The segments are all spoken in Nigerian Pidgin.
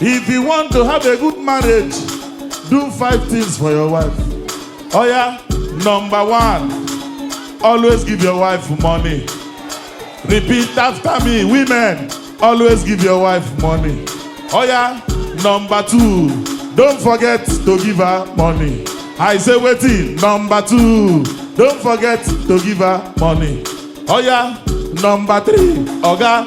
If you want to have a good marriage, do five things for your wife. Oh yeah, number one, always give your wife money. Repeat after me, women, always give your wife money. Oh yeah, number two, don't forget to give her money. I say waiting, number two, don't forget to give her money. Oh yeah, number three, oga,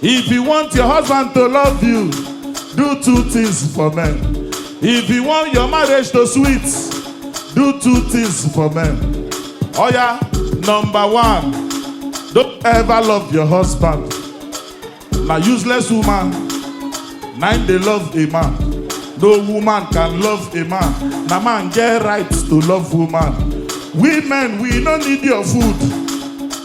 If you want your husband to love you, do two things for men. If you want your marriage to sweet, do two things for men. Oh yeah, number one, don't ever love your husband. Na useless woman, nine dey love a man. No woman can love a man. Na man get right to love woman. Women, we no need your food.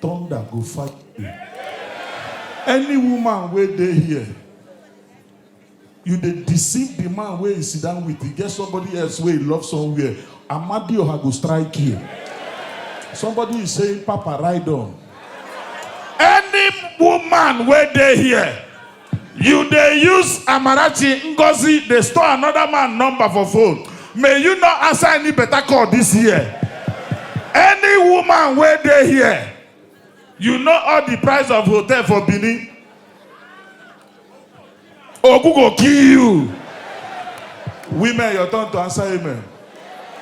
Thunder go fire you. Any woman wey dey here, you dey deceive the man wey you sit down with, e get somebody else wey you love somewhere, Amadioha go strike you. Somebody is saying, Papa, ride on. Any woman wey dey here, You dey use Amarachi Ngozi dey store another man number for phone, may you no answer any better call this year. Any woman wey dey here, you know all the price of hotel for Benin? Ogun go kill you. Women, your turn to answer amen.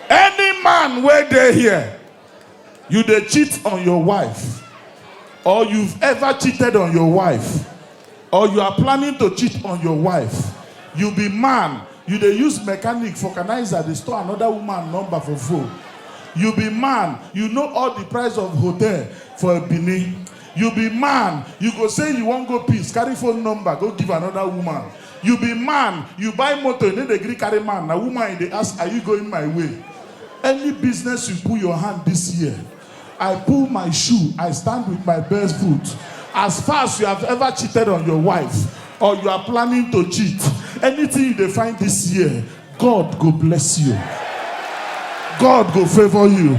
Any man wey dey here, You dey cheat on your wife or you've ever cheated on your wife or you are planning to cheat on your wife, you be man you dey use mechanic, vulcanizer dey store another woman number for phone, you be man you know all the price of hotel for Benin, you be man you go say you wan go peace carry phone number go give another woman, you be man you buy motor you no dey gree carry man na woman you dey ask are you going my way? Any business you put your hand this year, I pull my shoe, I stand with my best foot. As far as you have ever cheated on your wife or you are planning to cheat, anything you dey find this year, God go bless you. God go favor you.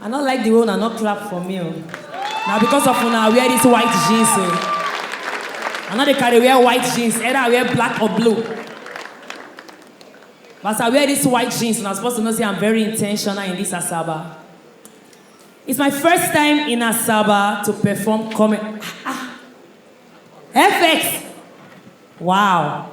I no like the way una no clap for me o. Na because of una I wear this white jeans o. I no dey carry wear white jeans, either I wear black or blue. But as I wear this white jeans, una suppose to know say I'm very intentional in this Asaba. It's my first time in Asaba to perform comedy. Ah, ah. FX! Wow.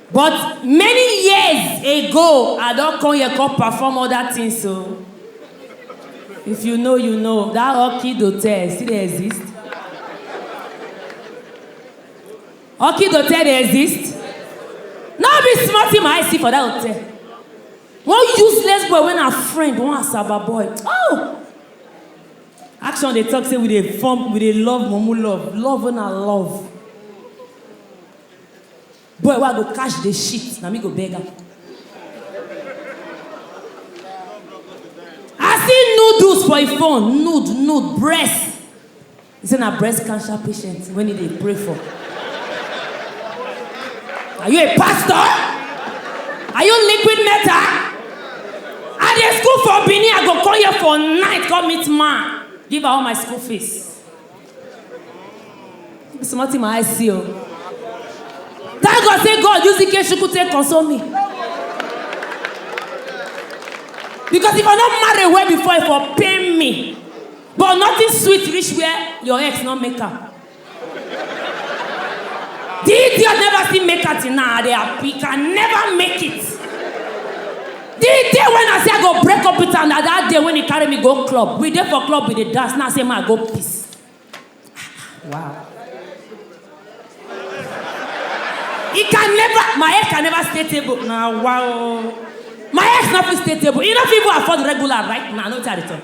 But many years ago I don come here come perform other things o. If you know you know, that Orchid Hotel still dey exist? Orchid Hotel dey exist? No be small thing my eye see for that hotel. One useless boy wey na friend, one Asaba boy. Oh! Action dey talk say we dey form, we dey love mumu love, love wey na love. Boy wey I go catch dey shit, na me go beg am. I see noodles for im phone, nude, nude, breast. He say na breast cancer patient wey im dey pray for. Are you a pastor? Are you liquid metal? I dey school for Benin, I go come here for night come meet man, give am all my school fees. Be small thing my eye see o. Thank God say God use Ikechukwu take console me. Because if I no marry well before, e for pain me. But nothing sweet reach where your ex no make am. The idiot never still make am till now, I dey happy, can never make it. The day when I say I go break up with am na that day when he carry me go club. We dey for club, we dey dance. Now I say ma I go piss. Wow. He can never, my ex can never stay table. Now wow. My ex no fit stay table. He no fit even afford regular right now. No tell the talk.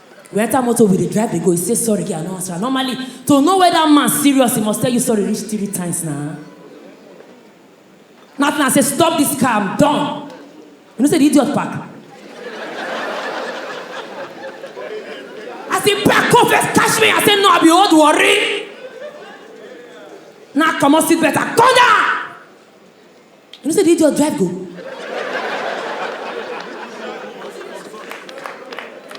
We enter motor, we dey drive, dey go. He say sorry, girl, I no answer. Normally, to know whether man serious, he must tell you sorry reach three times now. Nothing. I say stop this car, I'm done. You know say the idiot park. As he back up, first catch me. I say no, I be old worry. Now come on, sit better, come down. You know say the idiot drive go.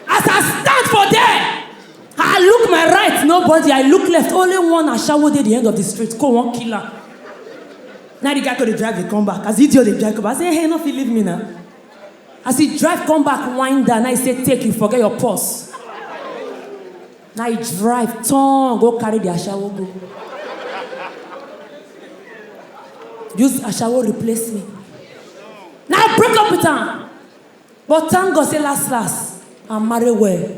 As I stand for there, I look my right, nobody. I look left, only one ashawo dey the end of the street. Go one killer. Now the guy go dey drive dey come back. As the idiot dey drive come back, I say, hey, no fit leave me now. As he drive come back, wind down, I say, take you, forget your purse. na e drive turn go carry the ashawo go use ashawo replace me na i break up with am but thank god say last last i marry well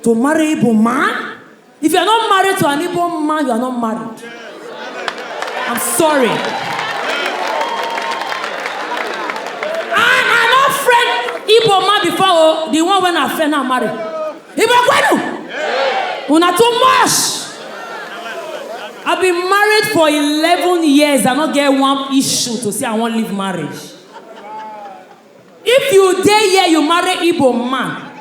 to marry igbo man if you are not married to an igbo man you are not married I'm sorry. I I no friend Igbo man before o, the one when I friend now marry. Igbo kwenu. Una too much. I've been married for 11 years. I no get one issue to say I wan leave marriage. If you dey here, you marry Igbo man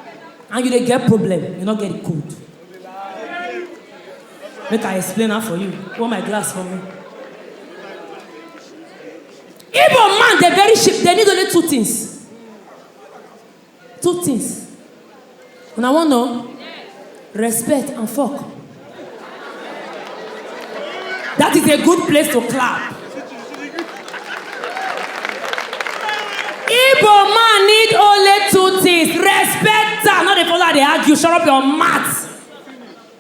and you dey get problem, you no get the code. Make I explain am for you. Hold my glass for me. Igbo man dey very cheap, dey need only two things. Two things. Una wan know? Respect and fuck. That is a good place to clap. Igbo man need only two things. Respect am. No dey follow am dey argue. Shut up your mouth.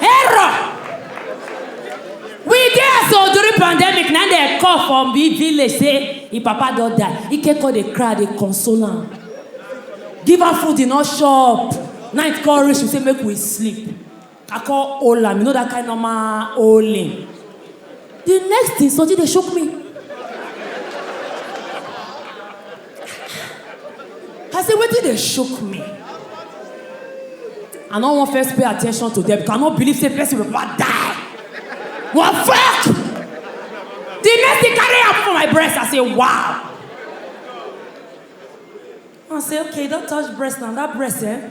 Error! We dey as old during pandemic, na dey call from the village say im papa don die. Ike come dey cry, dey console am. Give am food, e no chop. Night come reach, we say make we sleep. I come hold am, you know that kind normal holding. The next thing, Soji dey shook me. I say, wetin dey shook me? I no wan first pay attention to them because I no believe say person will ever die. What fuck? The next thing carry am for my breast, I say, wow. I say, okay, don't touch breast now, that breast, eh?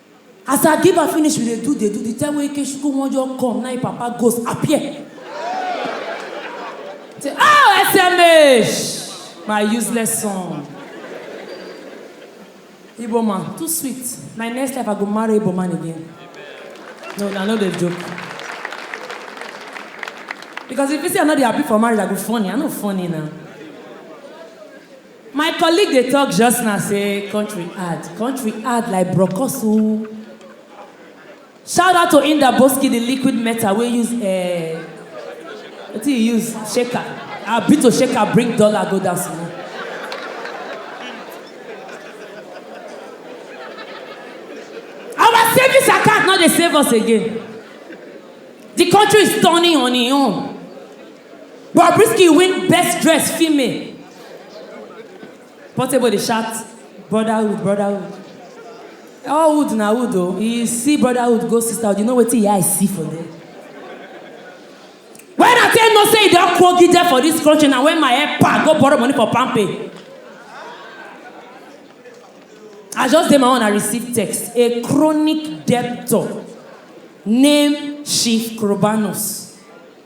As I give am finish we dey do dey do the time wey Ikechukwu wan just come na im papa ghost appear. Say oh SMH my useless son. Igbo man too sweet my next life I go marry Igbo man again. No I no dey joke. Because if you say I no dey happy for marriage I go funny I no funny na. My colleague dey talk just now say country hard, country hard like brokos oo. Shout out to Indaboski the liquid metal wey use eh, wetin you use shaker, ah Bito shaker bring dollar go down small. Our savings account no dey save us again, the country is turning on e own. Bobrisky win best dressed female. Portable dey shout brotherhood brotherhood. All wood na wood o. You see brotherhood go sisterhood you know wetin your eye see for there. When I take know say e don kpogide for dis country na when my epa go borrow money for palmpay. I just dey my own I receive text a chronic debtor named Chief Korobanus.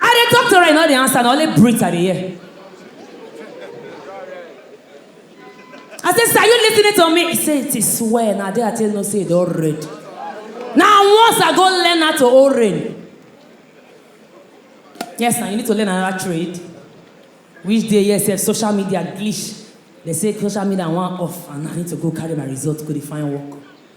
I dey talk to her, you no dey answer, na only breathe I dey hear. I say, sir, you listening to me? He say, it is swear, na there I take know say e don red. Na once I go learn how to hold rain. Yes, na you need to learn another trade. Which day, yes, sef, social media glitch. They say social media wan off and I need to go carry my result, go dey find work.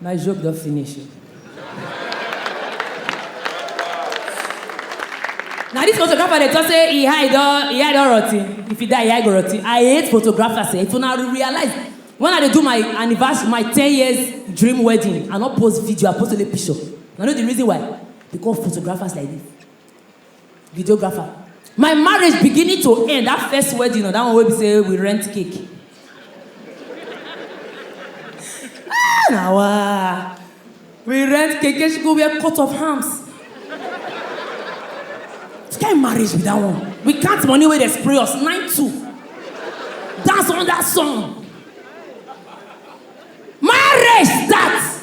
My joke don finish o. Na this photographer dey talk say e eye don e eye don rotten. If you die, e eye go rotten. I hate photographers eh. If una realize when I dey do my anniversary, my ten years dream wedding, I no post video, I post only picture. Una know the reason why? Because of photographers like this. videographer my marriage beginning to end that first wedding or that one wey be say we rent cake ah na wa we rent cake she go wear cut of arms which kind marriage be that one we count money wey dey spray us nine two dance under sun marriage start.